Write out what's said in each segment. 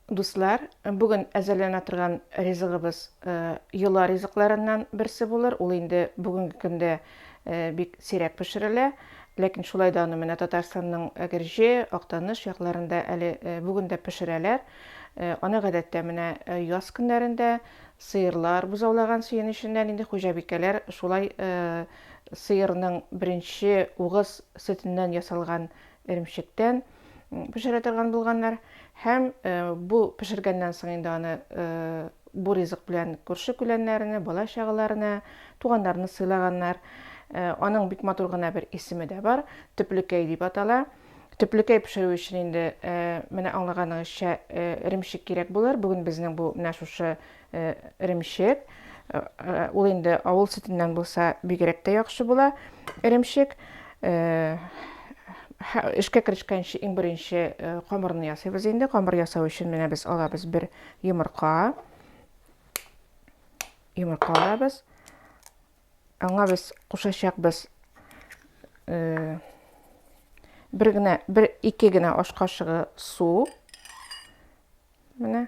Дуслар, бүген әзерләнә торган ризыгыбыз йола ризыкларыннан берсе булыр. Ул инде бүгенге көндә бик сирәк пешерелә. Ләкин шулай да аны менә Татарстанның Әгерҗе, Актаныш якларында әле бүген дә пешерәләр. Аны гадәттә менә яз көннәрендә сыерлар бозаулаган сөен эченнән инде хуҗабикәләр шулай сыерның беренче угыз сөтеннән ясалган эремчектән пешерә торган булганнар һәм бу пешергәннән соң инде аны бу ризык белән күрше күләннәренә бала чагаларына туганнарына сыйлаганнар аның бик матур гына бер исеме дә бар төплекәй дип атала төплекәй пешерү өчен инде менә аңлаганыгызча эремчек кирәк булыр бүген безнең бу менә шушы Эремчек. Ул инде авыл сөтеннән булса, бигрәк тә яхшы була. Эремчек. Эшкә керешкәнче иң беренче камырны ясыйбыз инде. Камыр ясау өчен менә без алабыз бер йомырка. Йомырка алабыз. Аңа без кушачакбыз бер генә, бер ике генә аш кашыгы су. Менә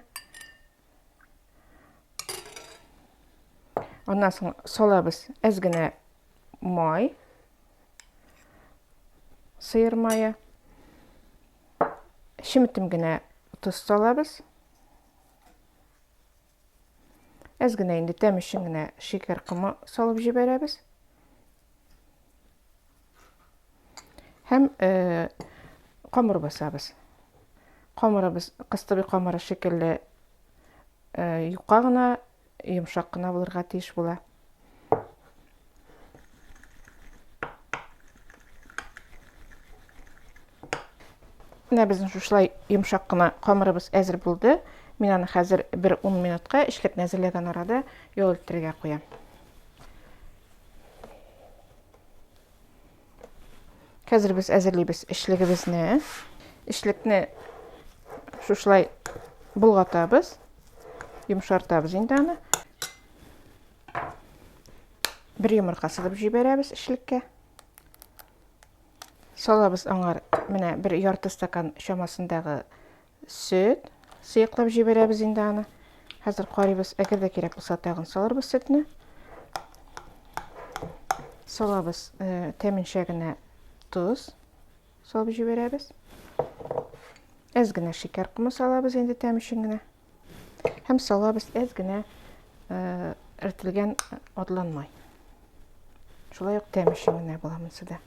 Аннан соң салабыз әз генә май, сыер мае. Шеметем генә тоз салабыз. Әз генә инде тәм өчен генә шикәр комы салып җибәрәбез. Һәм э, камыр басабыз. Камырыбыз кыстыбый камыры шикелле э, юка гына, йомшак кына булырга тиеш була. Менә безнең шушылай йомшак кына камырыбыз әзер булды. Мин аны хәзер бер 10 минутка эшләп нәзерләгән арада ял иттерергә куям. Хәзер без әзерлибез эчлегебезне. Эчлекне шушылай болгатабыз. Йомшартабыз инде аны. Бер йомырка сызып җибәрәбез эчлеккә. Салабыз аңар менә бер ярты стакан чамасындагы Сөт. Сыеклап җибәрәбез инде аны. Хәзер карыйбыз, әгәр дә кирәк булса, тагын салырбыз сөтне. Салабыз э, тәменчә генә тоз салып җибәрәбез. Әз генә шикәр комы салабыз инде тәм өчен генә. Һәм салабыз әз генә э, эртелгән атланмай. Шулай ук тәм өчен генә була монысы да.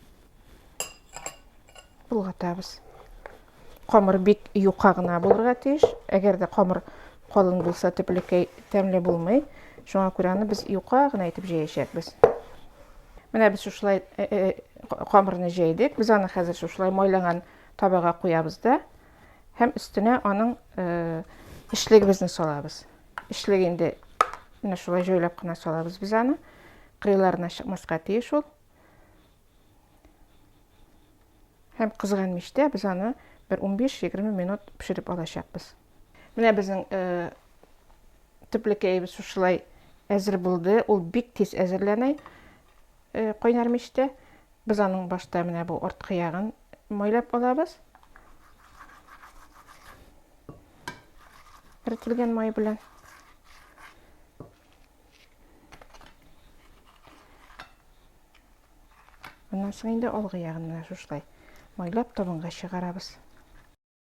Болгатабыз. Камыр бик юка гына булырга тиеш. Әгәр дә камыр калын булса, төплекәй тәмле булмый. Шуңа күрә аны без юка гына итеп җәячәкбез. Менә без шушылай э, э, камырны җәйдек. Без аны хәзер шушылай майланган табага куябыз да һәм өстенә аның э, эчлегебезне салабыз. Эчлек инде менә шулай җайлап кына салабыз без аны. Кырыйларына чыкмаска тиеш ул. Һәм кызган мичтә без аны бер 15-20 минут пешереп алачакбыз. Менә безнең э, төплекәебез шушылай әзер булды. Ул бик тиз әзерләнә э, кайнар мичтә. Без аның башта менә бу арткы ягын майлап алабыз. Эрителгән май белән. Моннан соң инде алгы ягын менә шушылай майлап табынга чыгарабыз.